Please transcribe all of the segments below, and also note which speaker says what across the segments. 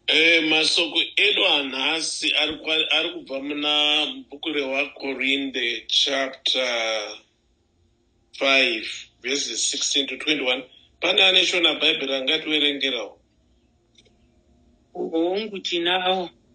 Speaker 1: Eh, masoko edu anhasi ari kwa- ari kubva muna bhuku rewakorinde chapter 5 verses 16 to 21 pane ane shona bhaibheri angativerengerawo
Speaker 2: Hongu, tinawo.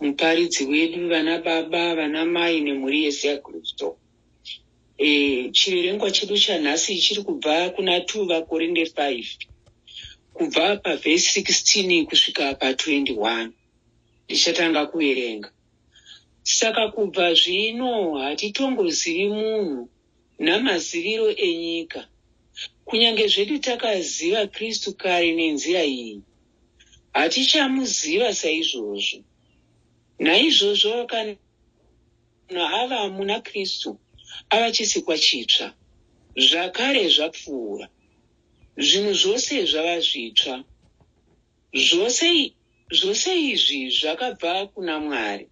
Speaker 2: muparidzi wedu, vana baba, vana mai nemhuri yese yaKristu. E, chiverengwa chedu chanhasi chiri kubva kuna 2 vakorinde 5 kubva pavhesi 16 kusvika pa 21 ndichatanga kuverenga saka kubva zvino hatitongozivi munhu namaziviro enyika. Kunyange zvedu takaziva Kristu kare nenzira iyi, hatichamuziva saizvozvo. Naizvozvo kana ava muna Kristu ava chisikwa chitsva, zvakare zvapfuura, zvinhu zvose zvava zvitsva. Zvose, zvose izvi zvakabva kuna Mwari.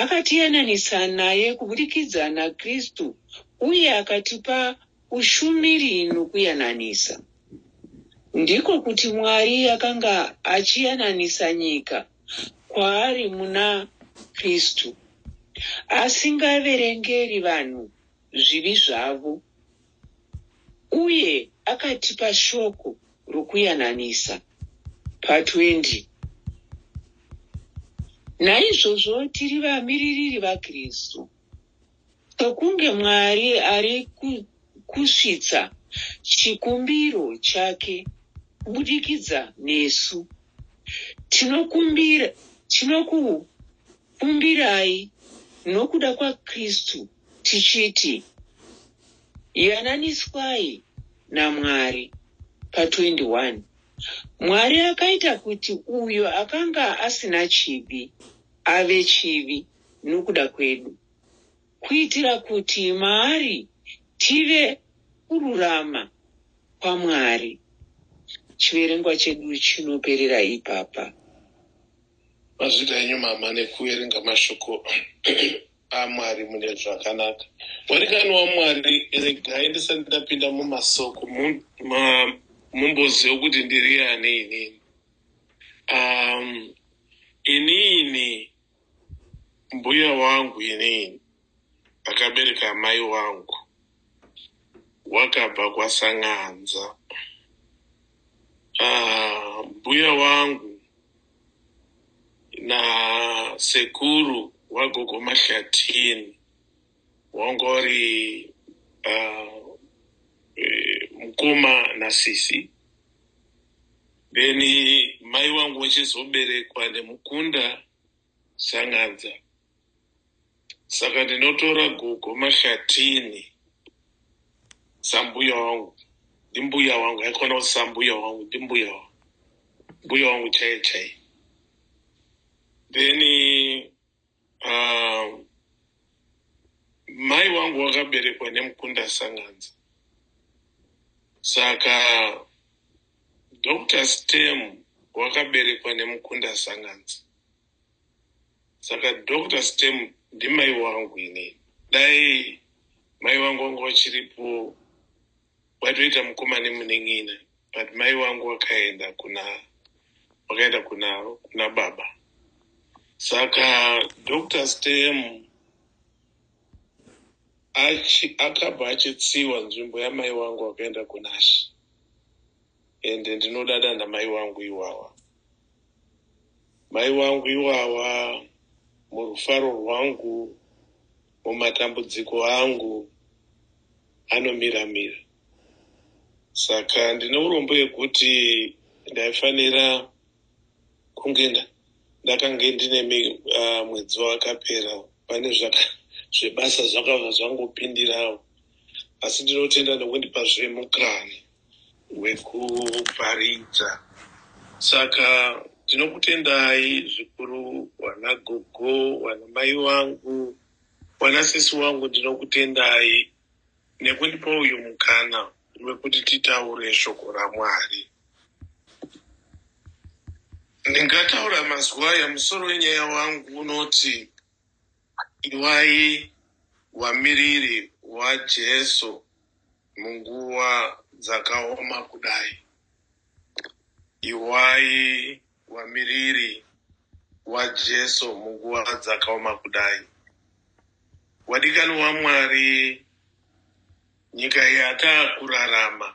Speaker 2: Akatiyananisa naye kuburikidza naKristu uye akatipa ushumiri nokuyananisa. Ndiko kuti Mwari akanga achiyananisa nyika kwaari muna Kristu, asingaverengeri vanhu zvivi zvavo. uye akatipa shoko rokuyananisa pa 20. Naizvozvo tiri vamiririri vaKristu, sokunge Mwari ari kusvitsa chikumbiro chake kubudikidza nesu. Tinokumbira, tinokukumbirai nokuda kwaKristu tichiti, Yananiswai naMwari. Pa 21. Mwari akaita kuti uyo akanga asina chivi ave chivi nokuda kwedu, kuitira kuti maari tive kururama kwaMwari. Chiverengwa chedu chinoperera ipapa.
Speaker 1: Mazwira enyu mama nekuverenga mashoko. amwari mune zvakanaka murikani wamwari regai ndisati ndapinda mumasoko mumboziva kuti ndiri ani inini um, inini mbuya wangu inini akabereka amai wangu wakabva kwaSang'anza. Ah, mbuya wangu nasekuru wagogo Mahlatini wangori ah, eh, mukoma nasisi then mai wangu wachizoberekwa nemukunda Sang'anza. saka ndinotora gogo mashatini sambuya wangu ndimbuya wangu aikona kuti sambuya wangu ndimbuya wangu mbuya wangu chaiye chaiye then uh, mai wangu wakaberekwa nemukunda sanganza saka dr stem wakaberekwa nemukunda sanganza saka dr stem ndimai wangu ini dai mai vangu vanga vachiripo vaitoita mukoma nemunin'ina but mai vangu vakaenda kuna vakaenda kuna kuna baba saka dr stem akabva achitsiwa nzvimbo yamai vangu vakaenda kunashi ende ndinodada namai wangu iwawa mai wangu iwawa murufaro rwangu mumatambudziko angu anomira mira saka ndine urombo yekuti ndaifanira kunge ndakange ndine ah, mwedzi wakapera pane zvebasa zvakabva zvangopindirawo asi ndinotenda nekundipa zvemukani wekuparidza saka ndinokutendai zvikuru wana gogo wana mai wangu wana sisi wangu ndinokutendai nekundipa uyu mukana wekuti titaure shoko ramwari ndingataura mazuva aya musoro wenyaya wangu unoti iwai wamiriri wajesu Munguva dzakaoma kudai, Iwai wamiriri waJesu munguva dzakaoma kudai. Wadikanwi waMwari, nyika yatakurarama.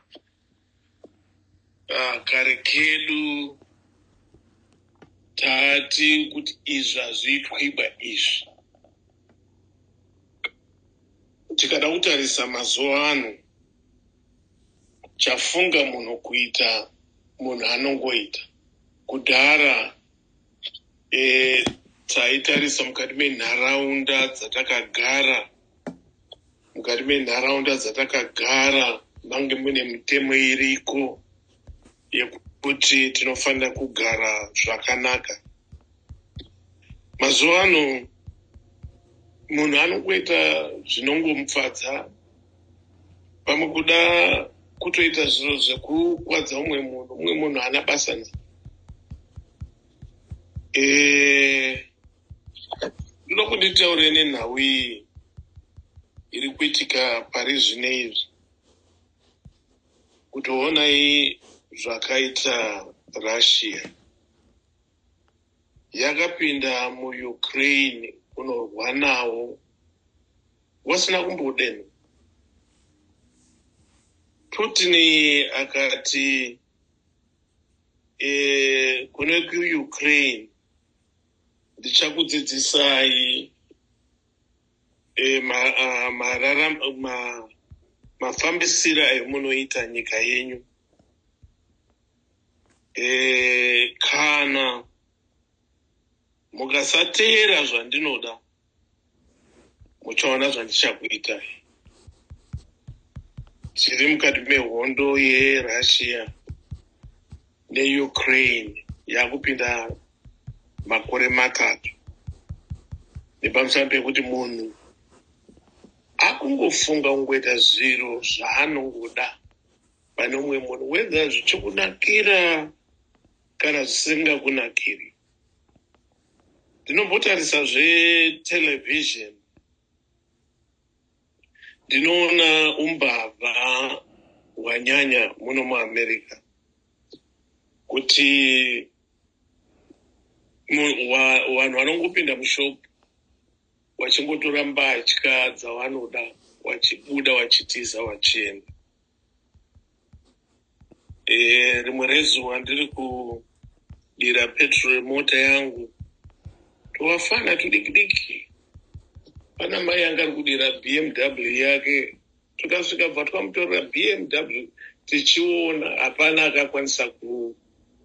Speaker 1: Ah, kare kedu tati kuti izvi hazviitwiba izvi tikada kutarisa mazuva ano chafunga munhu kuita munhu anongoita kudhara e, taitarisa mukati menharaunda dzatakagara mukati menharaunda dzatakagara mange mune mitemo iriko yekuti tinofanira kugara zvakanaka mazuva ano munhu anongoita zvinongomufadza pamwe kuda kutoita zviro zvekukwadza umwe munhu umwe munhu haana basa na e, eh, Ndinoda kuti nditaure nenhau iyi iri kuitika pari zvine izvi, kuti honai zvakaita Russia. Yakapinda muUkraine kunorwa nawo wasina kumbodeno. Putin akati e, kune kuUkraine ndichakudzidzisai eh, ma, ah, marara, ma, mafambisiro amunoita nyika yenyu eh, kana mukasateera zvandinoda uchaona zvandichakuita tiri mukati mehondo yerussia neukraine yakupinda makore matatu nepamusana pekuti munhu akungofunga kungoita zviro zvaanongoda pane umwe munhu wedza zvichikunakira kana zvisingakunakiri ndinombotarisa zvetelevision ndinoona umbavha hwanyanya muno muamerica kuti vanhu vanongopinda mushop vachingotora mbatya dzavanoda vachibuda vachitiza vachienda Eh, rimwe rezuva ndiri kudira petrol yemota yangu twavafana tudikidiki pana mai yanga ari kudira bmw yake tukasvika bva twamutorera bmw tichiona hapana akakwanisa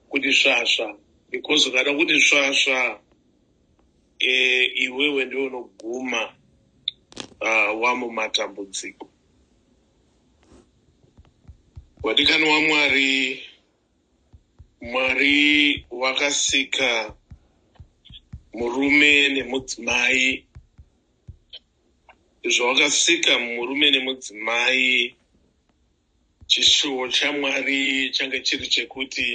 Speaker 1: kuti svasva because ukada kuti svasva eh, iwewe ndiwe unoguma ah, wamumatambudziko Wadikani waMwari, Mwari wakasika murume nemudzimai. Zvawakasika murume nemudzimai, chishuwo chaMwari change chiri chekuti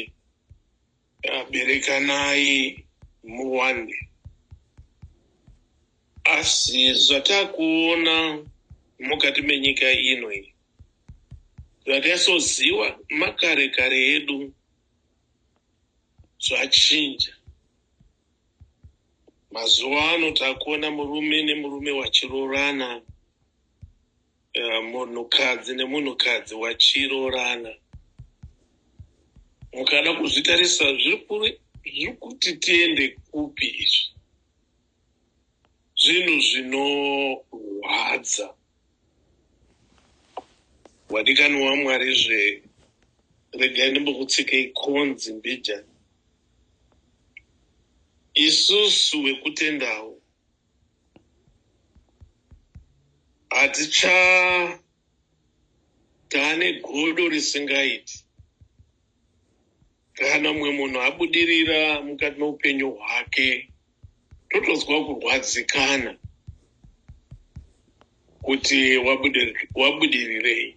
Speaker 1: Berekanai muwande. Asi zvatakuona mukati menyika ino iyi zvatasoziva makare kare edu zvachinja. Mazuva ano takuona murume nemurume vachiroorana. Eh, munhukadzi nemunhukadzi wachiroorana mukada kuzvitarisa zviri kuti tiende kupi izvi zvinhu zvinorwadza wadikani wamwari zve regai ndimbokutsikei konzi mbijani isusu wekutendawo hatichatane godo risingaiti kana mumwe munhu abudirira mukati meupenyu hwake totonzwa kurwadzikana kuti wabudirirei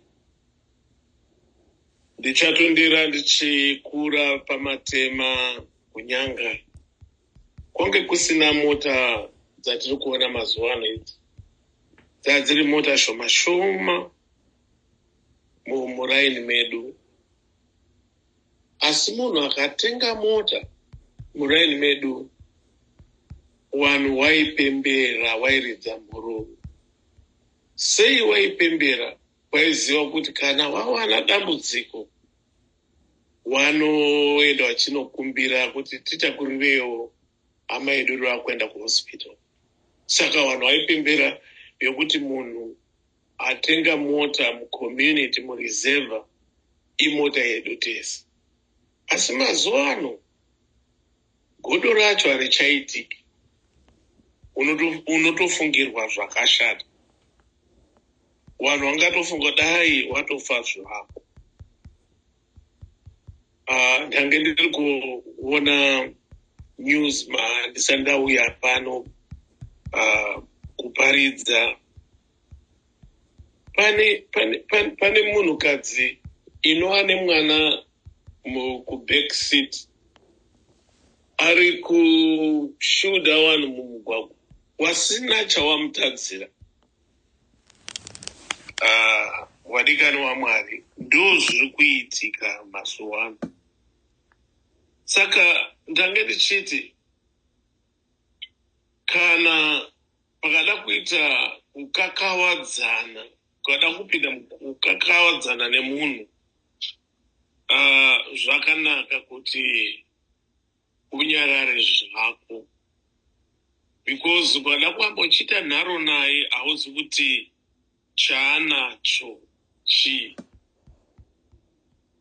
Speaker 1: ndichatondera ndichikura pamatema kunyanga Kwange kusina mota dzatiri kuona mazuva ano idzi dzaa dziri mota shoma shoma muraini medu asi munhu akatenga mota muraini medu wanhu waipembera wairidza mhururu sei waipembera waiziva kuti kana wawana dambudziko wanoenda wachinokumbira kuti titakurirewo hama yedu iri vakuenda kuhospital saka vanhu vaipembera yokuti munhu atenga mota mucommunity mureserva imota yedu tese asi mazuva ano Godo racho harichaitiki. Unotofungirwa unoto zvakashata. Vanhu vangatofunga dai watofa zvako. Ah, ndange ndiri kuona news ma ndisandauya pano uh, kuparidza pane pane pane, pane munhukadzi inova nemwana kuback seat ari kushuda vanhu mumugwagwa wasina chawamutadzira ah, vadikani wamwari ndo zviri kuitika mazuva ano saka ndange ndichiti Kana pakada kuita kukakavadzana, ukada kupinda kukakavadzana nemunhu, uh, zvakanaka kuti unyarare zvako because ukada kuamba uchiita nharo naye hauzi kuti chaanacho chii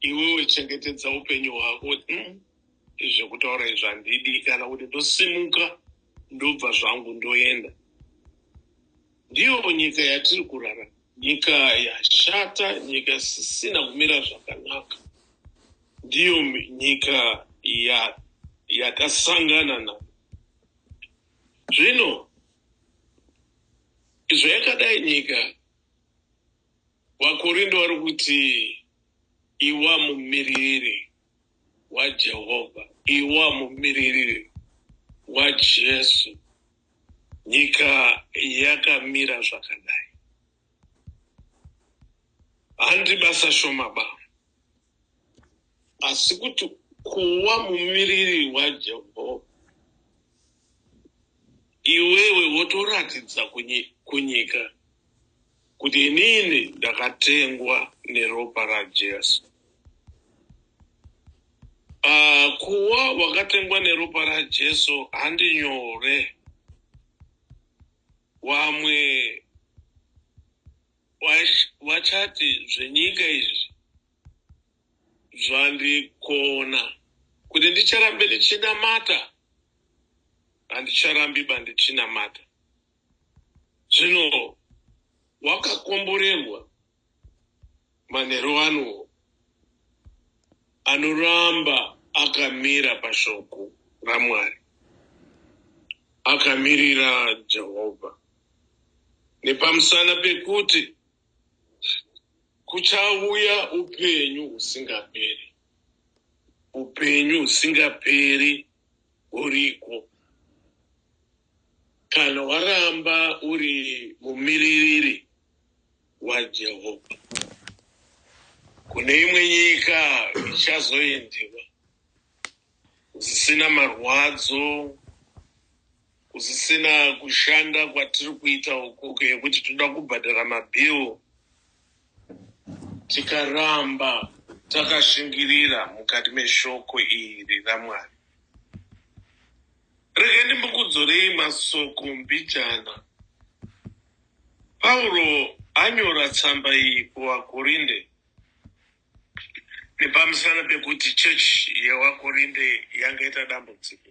Speaker 1: iwewe chengetedza upenyu hwako hmm? zvekutaura izvi handidi kana kuti ndosimuka ndobva zvangu ndoenda ndiyo nyika yatiri kurara nyika yashata nyika isisina kumira zvakanaka ndiyo nyika yakasangana na Zvino izvo yakadai nyika, vaKorindo vari kuti iwa mumiririri waJehovha, iwa mumiririri waJesu, nyika yakamira zvakadai. handi basa shoma ba asi kuti kuwa mumiriri wajehovha iwewe wotoratidza kunyika kuti inini ndakatengwa neropa rajesu uh, kuwa wakatengwa neropa rajesu handi nyore Wamwe wachati zvenyika izvi zvandikona kuti ndicharambe ndichinamata handicharambi bandichinamata zvino wakakomborerwa manheru ano anoramba akamira pashoko ramwari akamirira jehovha nepamusana pekuti kuchauya upenyu husingaperi upenyu husingaperi huriko kana waramba uri mumiririri waJehovha. Kune imwe nyika ichazoendewa kusisina marwadzo, kusisina kushanda kwatiri kuita uku yekuti tinoda kubhadhara mabhill tikaramba takashingirira mukati meshoko iri raMwari. Rega ndimbokudzorei masoko mbijana. Pauro anyora tsamba iyi kuvaKorinde nepamusana pekuti chechi yevaKorinde yanga ita dambudziko.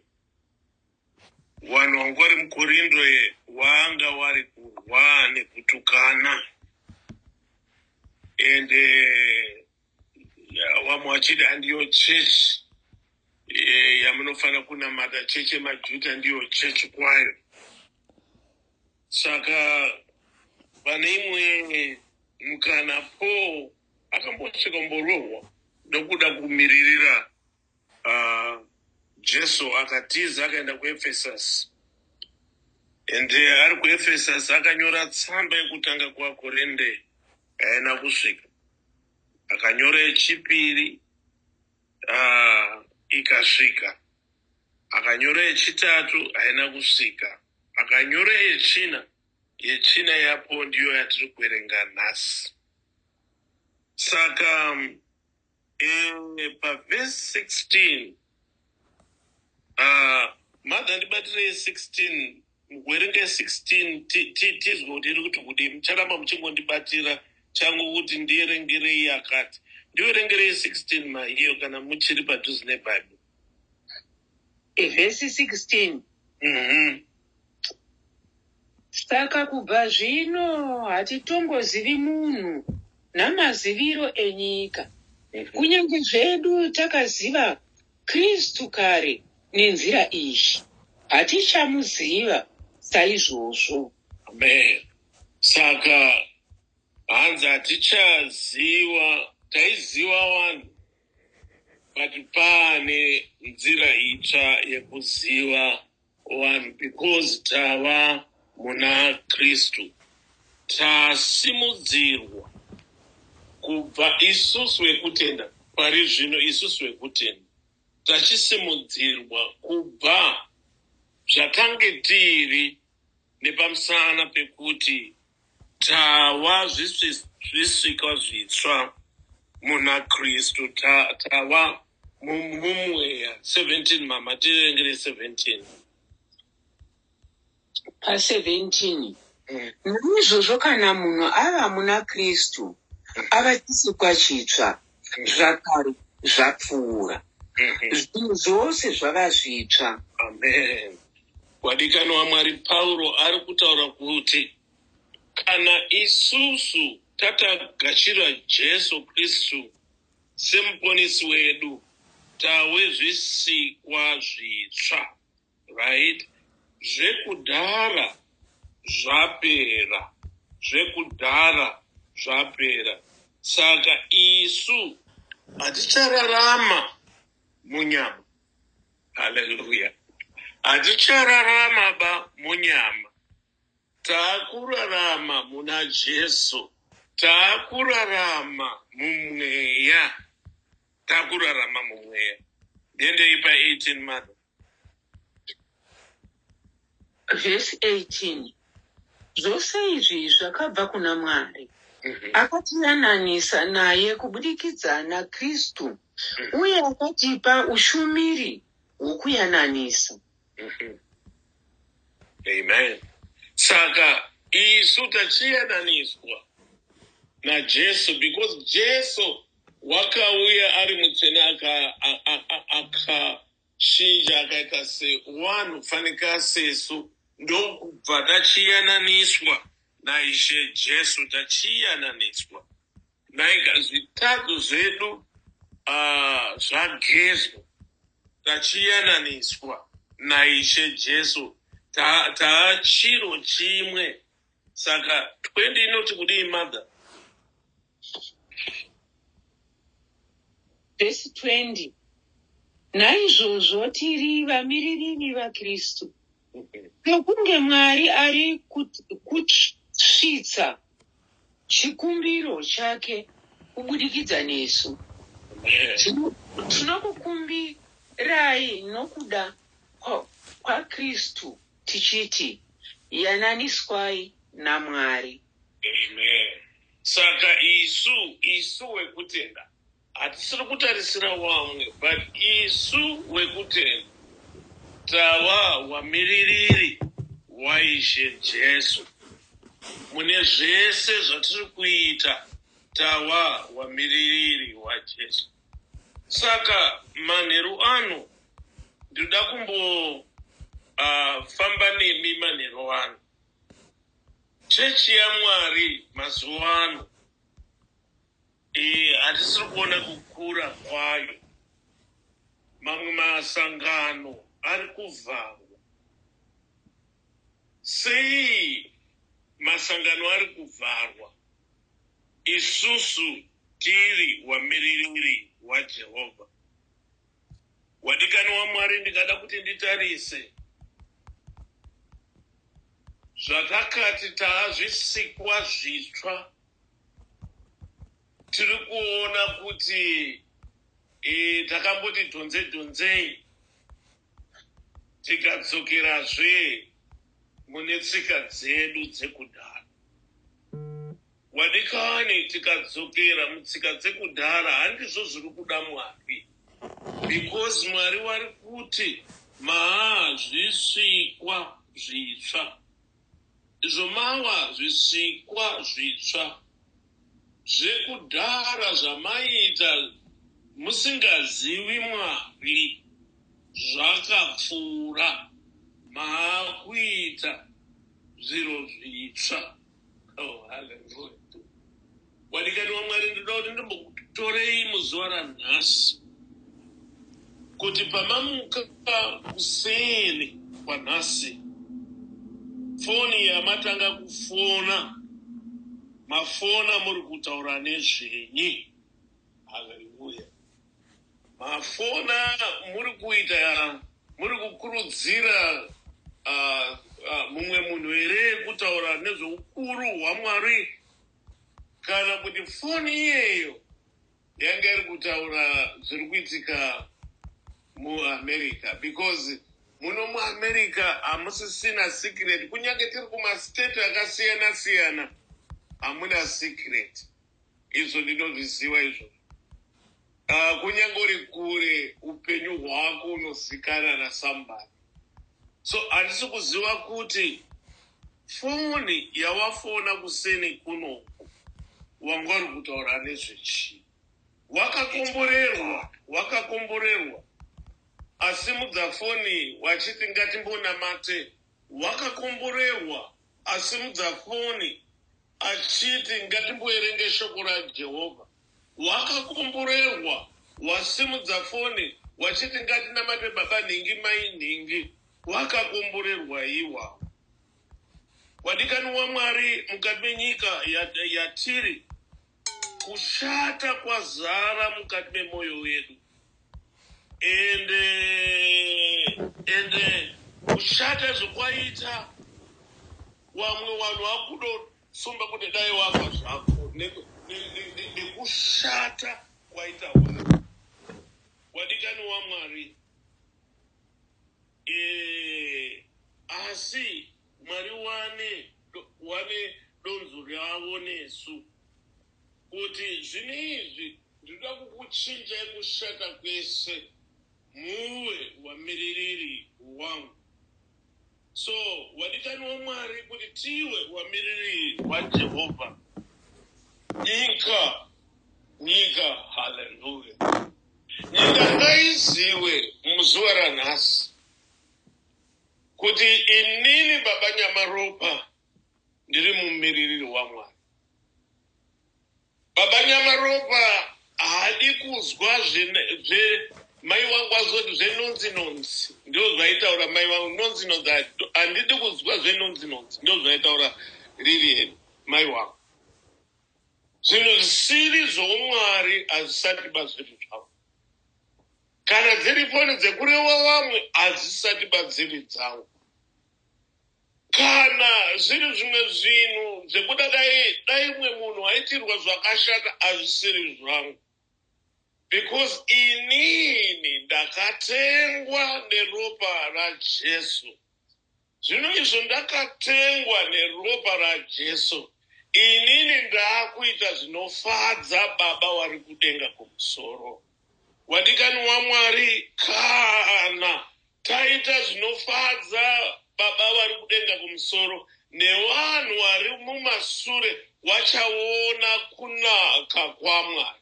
Speaker 1: Vanhu vanga vari muKorinde vanga vari kurwa nekutukana ende vamwe vachiti handiyo chechi eh, yamunofanira kunamata chechi yemajuta ndiyo chechi kwayo saka pane imwe mukana paul akambosvika kumborohwa nokuda kumiririra uh, jesu akatiza akaenda kuefesus and eh, ari kuefesus akanyora tsamba yekutanga kuvakorinde haina kusvika akanyora yechipiri uh, ikasvika akanyora yechitatu haina kusvika akanyora yechina yechina yapo ndiyo yatiri kuverenga nhasi saka um, e, pavhesi 16 Ah, mother ndibatirei 16 werenge 16 ti- ti- tizwe kuti iri kuti kudii mucharamba muchingondibatira changu kuti ndiyerengerei yakati ndiwerengerei 16 maiyo kana muchiri padhuze nebhaibheri
Speaker 2: Vhesi 16. Mhm. Saka kubva zvino hatitongozivi munhu namaziviro enyika. Kunyange zvedu takaziva Kristu kare nenzira iyi, hatichamuziva saizvozvo. Amen.
Speaker 1: Saka hanzi hatichaziva, taiziva vanhu but paane nzira itsva yekuziva Vanhu because tava muna Kristu tasimudzirwa kubva isusu vekutenda pari zvino isusu vekutenda tachisimudzirwa kubva zvatange tiri nepamusana pekuti Tava zvisikwa zvitsva muna Kristu. Tava mumweya 17 mama tirengere 17
Speaker 2: pa 17 mm. Naizvozvo kana munhu ava muna Kristu ava chisikwa chitsva zvakare zvapfuura mhm. zvinhu zvose zvava zvitsva amen
Speaker 1: wadikani wamwari pauro ari kutaura kuti kana isusu tatagashira jesu kristu semuponisi wedu tawe zvisikwa zvitsva Right zvekudhara zvapera zvekudhara zvapera saka isu hatichararama munyama haleluya hatichararama ba munyama taakurarama muna jesu taakurarama mumweya taakurarama mumweya ndiendei pa 18 madam
Speaker 2: Vhesi 18 Zvose izvi zvakabva kuna Mwari, mhm. akatiyananisa naye kubudikidza naKristu, mhm. uye akatipa ushumiri hwokuyananisa.
Speaker 1: Mhm. Amen. Saka isu tachiyananiswa naJesu because Jesu wakauya ari mutsvene Shinja akaita se one fanika sesu ndokubva tachiyananiswa naIshe Jesu tachiyananiswa naika zvitadzo zvedu ah, zvagezwa tachiyananiswa naIshe Jesu Ta- taachiro chimwe saka 20 inoti kudii mother
Speaker 2: vhesi 20 naizvozvo tiri vamiririri vakristu nokunge mwari ari kusvitsa chikumbiro chake kubudikidza nesu tinokukumbirai nokuda kwakristu tichiti yananiswai namwari Amen.
Speaker 1: Saka isu, isu wekutenda hatisiri kutarisira wamwe but isu wekutenda tava wamiririri waIshe Jesu. Mune zvese zvatiri kuita tava wamiririri waJesu. Saka manheru ano ndinoda kumbo uh, famba nemi manheru ano. Chechi yaMwari mazuva ano eh, hatisiri kuona kukura kwayo. Mamwe masangano ari kuvharwa. Sei masangano ari kuvharwa? Isusu tiri wamiririri waJehovha. Wadikani waMwari, ndingada kuti nditarise zvatakati taazvisikwa zvitsva. Tiri kuona kuti e, takamboti dhonze dhonzei tikadzokerazve mune tsika dzedu dzekudhara. Vadikani tikadzokera mutsika dzekudhara handizvo zviri kuda Mwari because Mwari wari kuti maa zvisikwa zvitsva izvo mawa zvisikwa zvitsva zvekudhara zvamaiita musingazivi Mwari zvakapfuura maakuita zviro zvitsva. Oh, hallelujah. Wadikani waMwari ndinoda kuti ndimbokutorei muzuva ranhasi kuti pamamuka kuseni kwanhasi foni yamatanga kufona mafona muri kutaura nezvenyi haleluya Mafona muri kuita muri kukurudzira uh, uh, mumwe munhu here kutaura nezveukuru hwaMwari kana kuti foni iyeyo yanga iri kutaura zviri kuitika muamerica because muno muamerica hamusisina secret kunyange tiri kumastate akasiyana siyana hamuna secret Izvo ndinozviziva izvo. Uh, kunyange uri kure upenyu hwako unozikanwa na somebody. So handisi kuziva kuti foni yawafona kuseni kuno wanga uri kutaura nezvechii. Wakakomborerwa, wakakomborerwa. Asimudza foni wachiti ngatimbonamate. Wakakomborerwa, asimudza foni Achiti, Ngatimboverenga Shoko raJehovha. Wakakomborerwa, wasimudza foni, wachiti, Ngatinamate Baba Nhingi, Mai Nhingi. Wakakomborerwa iwawo. Wadikani waMwari, mukati menyika yatiri, kushata kwazara mukati memoyo yedu. and uh, and uh, kushata zvekwaita wamwe wanhu wakudosumba kuti dai wafa zvako nekushata ne, ne, ne, kwaita wako wadikani wamwari e, asi Mwari wane do, wane donzo ravo nesu. Kuti zvino izvi ndinoda kukuchinjai kushata kwese muwe wamiririri wangu. So wadikani waMwari kuti tiwe wamiririri waJehovha. Nyika, nyika, haleluya. Nyika ngaiziwe muzuva ranhasi Kuti inini baba Nyamaropa ndiri mumiririri waMwari. Baba Nyamaropa haadi kuzwa zve mai wangu azoti zvenonzi nonzi ndozvaitaura mai wangu nonzi nonzi handidi kuzwa zvenonzi nonzi ndozvaitaura lilian mai wangu zvinhu zvisiri zvoumwari hazvisati bazviri zvavo Kana dziri foni dzekurewa vamwe hadzisati badziri dzangu. Kana zviri zvimwe zvinhu zvekuda dai dai mwe munhu aitirwa zvakashata azvisiri zvangu. Because inini ndakatengwa neropa raJesu. Zvino izvo ndakatengwa neropa raJesu, inini ndaakuita zvinofadza Baba wari kudenga kumusoro. Wadikani waMwari, kana taita zvinofadza Baba wari kudenga kumusoro, nevanhu wari mumasure wachaona kunaka kwaMwari.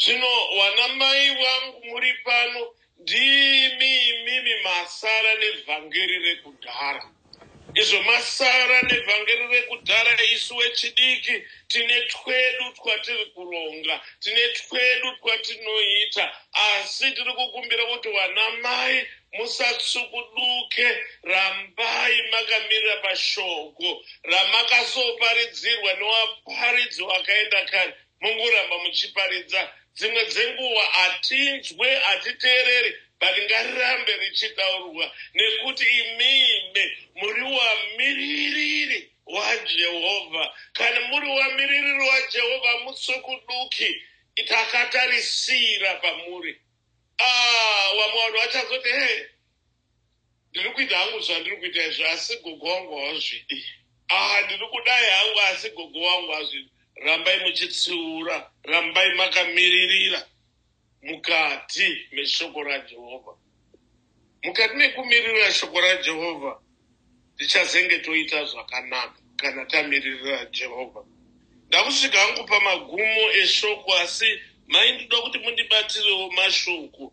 Speaker 1: Zvino wana mai wangu muri pano ndimi imimi masara nevhangeri rekudhara izvo masara nevhangeri rekudhara isu wechidiki tine twedu twatiri kuronga tine twedu twatinoita asi tiri kukumbira kuti wana mai musatsukuduke rambai makamirira pashoko ramakasoparidzirwa newaparidzi wakaenda kare mongoramba muchiparidza dzimwe dzenguva hatinzwe hatiteereri but ngarirambe richitaurwa nekuti imime muri wamiririri wajehovha kana muri wamiririri wajehovha musukuduki takatarisira pamuri ah, wamwe vanhu vachazoti he ndiri kuita hangu zvandiri kuita izvo asi gogo wangu hawazvidi ah ndiri kudai hangu asi gogo wangu hazvidi rambai muchitsiura rambai makamiririra mukati meshoko rajehovha mukati mekumiririra shoko rajehovha tichazenge toita zvakanaka kana tamiririra jehovha ndakusvika hangu pamagumo eshoko asi mai ndinoda kuti mundibatsirewo mashoko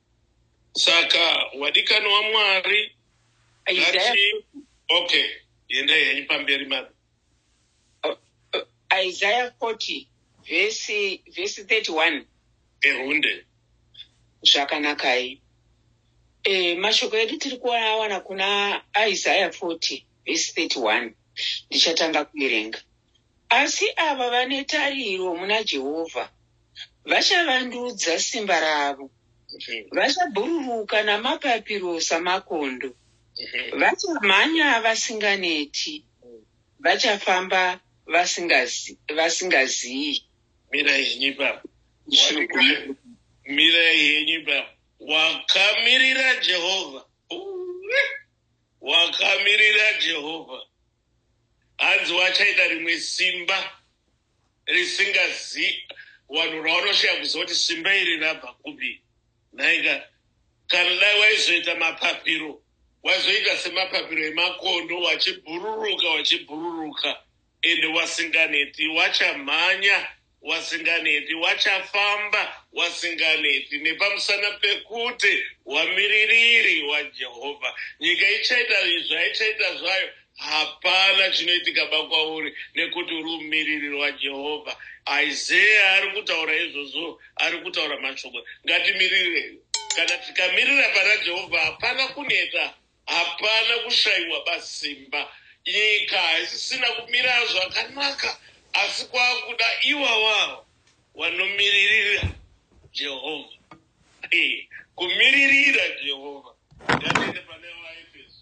Speaker 1: Saka wadikani waMwari ngati okay yendai henyu pamberi mami. Uh, uh,
Speaker 2: Isaiah 40 vhesi vhesi 31 ehunde zvakanakai e, eh, mashoko edu tiri kuawana kuna isaya 40 vhesi 31 ndichatanga kuverenga asi ava vane tariro muna jehovha Vachavandudza simba ravo. Vachabhururuka namapapiro samakondo. Vachamhanya vasinganeti. Vachafamba vasingazi- vasingaziyi. mirai henyu
Speaker 1: ipapo Shoko. Waka- mirai henyu ipapo wakamirira jehovha Uwe. wakamirira jehovha hanzi wachaita rimwe simba risingazi vanhu raunoshaya kuziva kuti simba iri rabva kupi nhaika kana dai waizoita mapapiro waizoita semapapiro emakondo wachibhururuka wachibhururuka ende wasinganeti wachamhanya wasinganeti wachafamba wasinganeti nepamusana pekuti wamiririri wajehovha nyika ichaita izvi haichaita zvayo Hapana chinoitikaba kwauri nekuti uri mumiririri waJehovha. Isaiah ari kutaura izvozvo, ari kutaura mashoko. Ngatimirirei. Kana tikamirira pana Jehovha, hapana kuneta, hapana kushaiwa basimba. Nyika haisisina kumira zvakanaka, asi kwakuda iwawawo wanomiririra Jehovha. Hey, kumiririra Jehovha. Ngatiende pane vaEfeso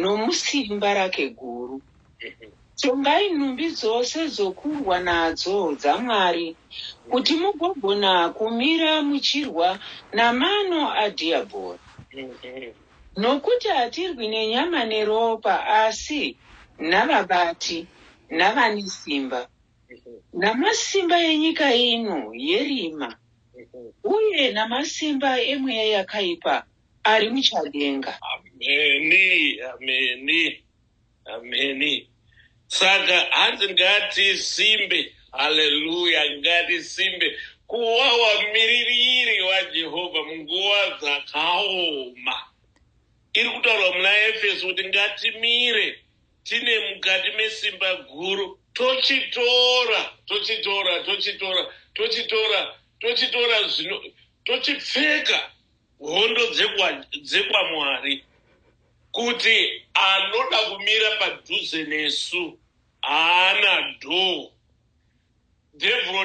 Speaker 2: nomusimba rake guru. Tongai nhumbi dzose dzokurwa nadzo dzaMwari, kuti mugogona kumira muchirwa namano adhiabhori. Nokuti hatirwi nenyama neropa, asi navabati, navane simba, namasimba enyika ino yerima, uye namasimba emweya yakaipa Ari muchadenga.
Speaker 1: Ameni, ameni, ameni. Saka hanzi ngatisimbe, haleluya, ngatisimbe kuva wamiririri waJehovha munguva dzakaoma. Iri kutaurwa muna Efeso kuti ngatimire tine mukati mesimba guru tochitora tochitora tochitora tochitora tochitora zvino tochipfeka hondo dzekwaMwari kuti anoda kumira padhuze nesu haana dhoo devuro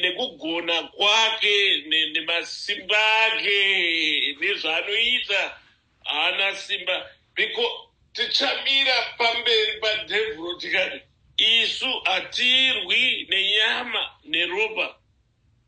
Speaker 1: nekugona kwake nemasimba ake nezvaanoita haana simba because tichamira pamberi padevuro tikati isu hatirwi nenyama neropa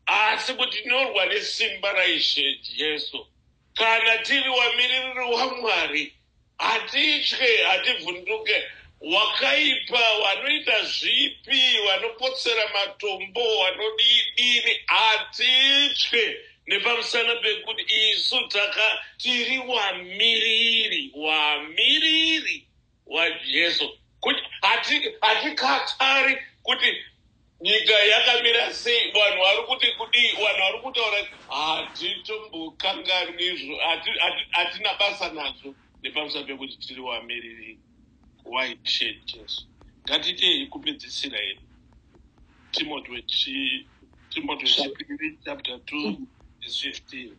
Speaker 1: Asi kuti tinorwa nesimba raIshe Jesu. Kana tiri wamiririri waMwari, hatitye, hativhunduke. Wakaipa wanoita zvipi, wanopotsera matombo, wanodiidini, hatitye nepamusana pekuti isu taka, tiri wamiriri, wamiriri. waJesu. Kuti hati- hatikatari kuti nyika yakamira sei, vanhu vari kuti kudii, vanhu vari kutaura, hatitombokanganwi izvo, hati- hati- hatina basa nazvo nepamusana pekuti tiri vamiriri white shirt Jesu. Ngatiitei kupedzisira hedu. Timoti wechi Timoti wechipiri chapter 2 verse 15.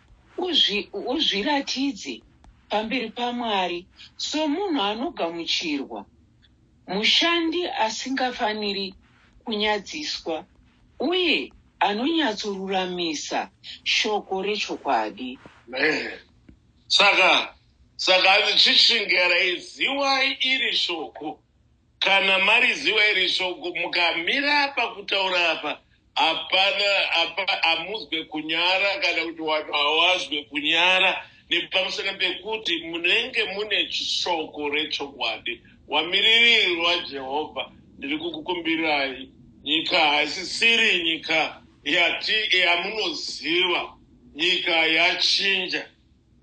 Speaker 2: Uzvi, uzviratidze pamberi paMwari somunhu anogamuchirwa, mushandi asingafaniri kunyadziswa, uye anonyatsoruramisa shoko rechokwadi. Amen. Saka,
Speaker 1: saka hanzi chichingereiziwai iri shoko. Kana mariziva iri shoko mukamira apa kutaura apa hapana apa hamuzwe kunyara kana kuti vanhu hawazwe kunyara nepamusana pekuti munenge mune shoko rechokwadi wamiriri rwajehovha ndiri kukukumbirai nyika haisisiri nyika yati yamunoziva nyika yachinja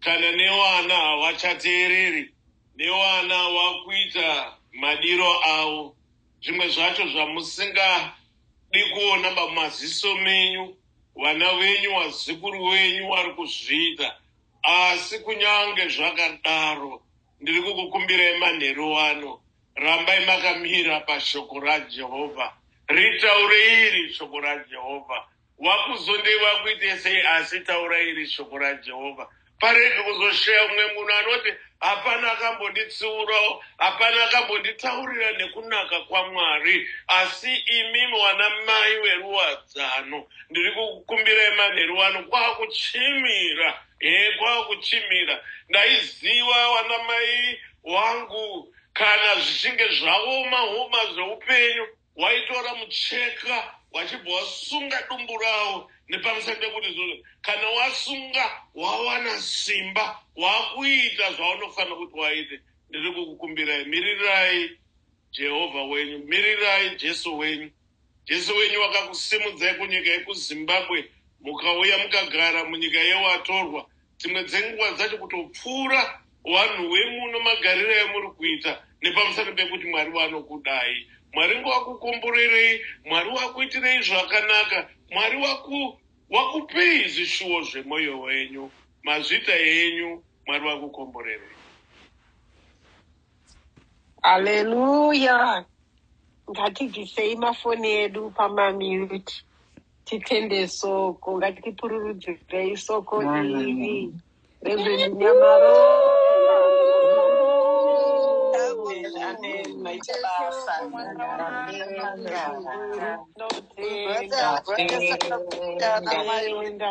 Speaker 1: kana nevana havachateereri nevana wakuita madiro avo zvimwe zvacho zvamusingadi kuona pamaziso menyu vana venyu wazikuru wenyu wari kuzviita asi kunyange zvakadaro ndiri kukukumbirai manheru wano rambai makamira pashoko rajehovha ritaure iri shoko rajehovha Wakuzondei wakuite sei asi taura iri shoko raJehovha parege kuzoshaya umwe munhu anoti hapana akambotitsiurawo hapana akambotitaurira nekunaka kwamwari asi imimi wana mai weruwadzano ndiri kukumbirai manheru wano kwakuchimira e kwakuchimira ndaiziva wana mai wangu kana zvichinge zvaoma homa zveupenyu Waitora mucheka wachibva wasunga dumbu rawo nepamusana pekuti izvozvo kana wasunga wawana simba wakuita zvaunofanira kuti waite. Ndiri kukukumbirai, mirirai Jehovha wenyu, mirirai Jesu wenyu. Jesu wenyu wakakusimudzai kunyika yekuZimbabwe mukauya mukagara munyika yewatorwa. dzimwe dzenguva dzacho kutopfuura vanhu wemuno magariro yamuri kuita nepamusana pekuti mwari vanokudai mwari ngovakukomborerei mwari wakuitirei zvakanaka mwari wakupei zvishuwo zvemoyo wenyu mazvita enyu mwari vakukomborerei
Speaker 3: Haleluya. Ngatibvisei mafoni edu pamamute. Titende soko. Ngatipururudzirei soko iri. Reverend Nyamaro. Amen. Amen. Maita basa. Amen. Brother, brother, sakakutana, mai. Tenda.